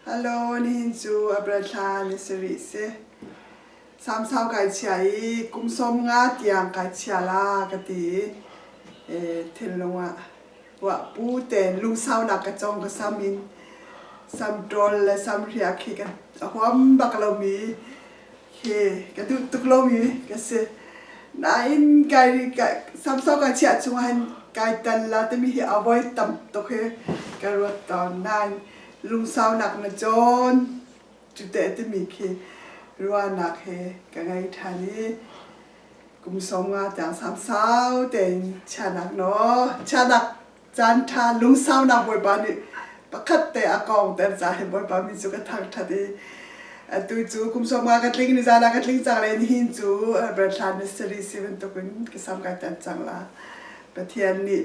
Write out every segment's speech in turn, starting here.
Hello, nihin cu a thla ni si rih si. Samsau kai chia i kum som nga tiang kai chia la ka ti i thinlung ah wa pu te lungsau nak ka chong ka sam in sam ṭol le sam hria khi kan a huam bak lomi Hi ka duh tuk lomi ka si. Nain kai samsau kai chiah chung ahhin kai tan la timi hi a voi tam tuk hi ka ruat tawn. Nain lungsaunak na cawn cute timi khi ruahnak he ka ngei ṭhan i kum sawm nga tiang samsau tein chiahnak naw chiahnak caan ṭha lungsaunak bawipa nih pakhat te a kong ter ca hin bawipa mi cu ka thangṭhat i atu cu kum sawmnga ka tling ni zan ah ka tling cang le nihin cu Berthlan Mystery si bantukin ka sam kai tan cang la Pathian nih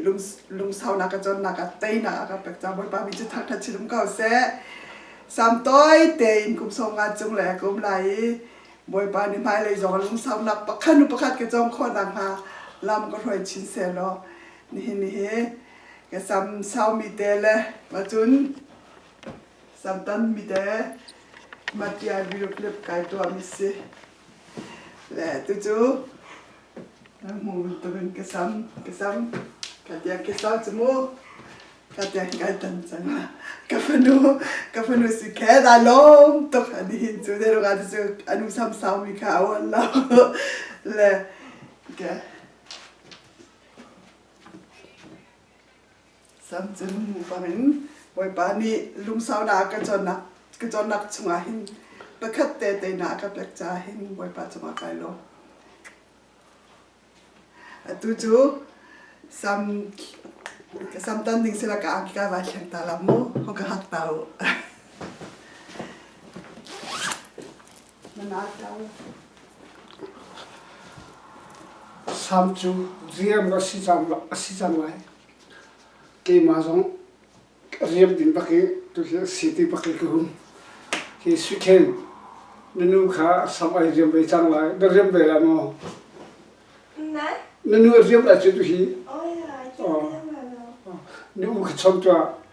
lungsaunak ka cawnnak ah teinak a kan pek cang bawipa mi cu thangṭhat si dum ko seh sam toi tein kum sawmnga cung le kum lai i bawipa nih hmailei zong lungsaunak pakhat nu pakhat ka cawng khawh nakhnga lam ka hruai chin se law nihin hi ka sam sau mi te le ma cun sam tam mi te matia virup lip kai tua mi si le tu cu na mu tuk in ka sam ka sam ka tia ke sau chu mu ka tia kai tan chang ka fanu ka fanu si khe da lom tuk ani hin chu de ruga chu anu sam sau mi kha awan lo le ke Sam cun bang in Bawipa nih lungsaunak ka cawnnak ka cawnnak chungah hin pakhat te teinak ka pek ca hin Bawipa cungah kai lo. Atu cu sam ka sam tan ding sila ka angki ka vai thleng ta la mu hong ka hak ta u. Sam cu riam rak si cang lai. Keimah zong riam ding bak i tuhi a si ti bak i ka hum. Hi Sui Hthen, na nu kha sam ai riam ve cang lai. Na riam ve lai maw? Nai? Na nu a riam lai cu tuhi. Oh, ya, cu riam lai lo. Nu ka chom tuah.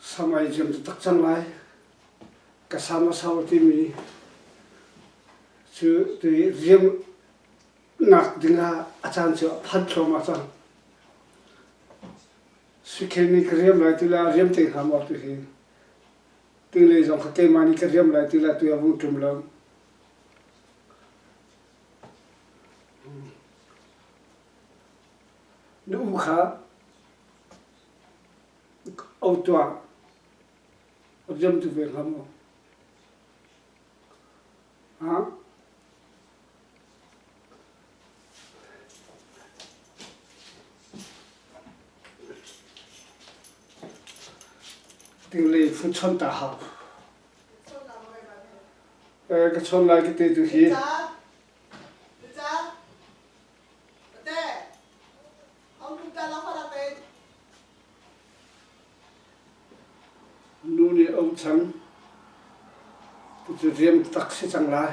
Sam ai jim tak cang lai. Ka sam a sau timi cu tu riam nak ding ah a caan cu a phanh thluama cang. Sikhen ni ka riam lai tu la riam te kham or tu hin. Tu le zong ka keima ni ka riam lai tu la tu a vung tum lo. Na u kha au tuah, a ziam tu ve hnga maw? Ha? Tinglei fu chon ta hau. Eh, ka chon lai ka te tu hi. Nu nih a um cang. Cu riam tak si cang lai.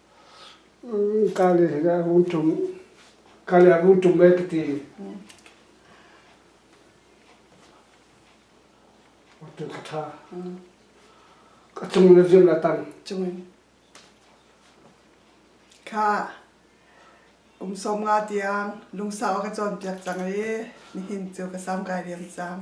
Kali a vung ṭum, kali a vung ṭum e ka ti. Ṭum ka ṭha. Ka cung na ziam la tang. Cung in. Kha umsawm nga tiang lungsau ka cawnpiak cang i nihin cu ka sam kai riam cang.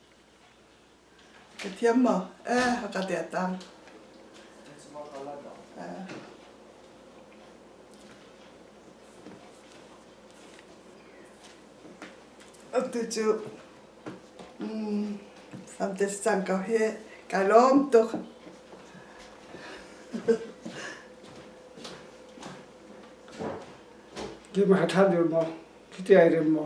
Ka thiam maw? Eh, a ka tet ang. Eh. Atu cu mm, fantes cang kau hi kai lom tuk. Ki ma than dir mo. Ki ti ai rim mo.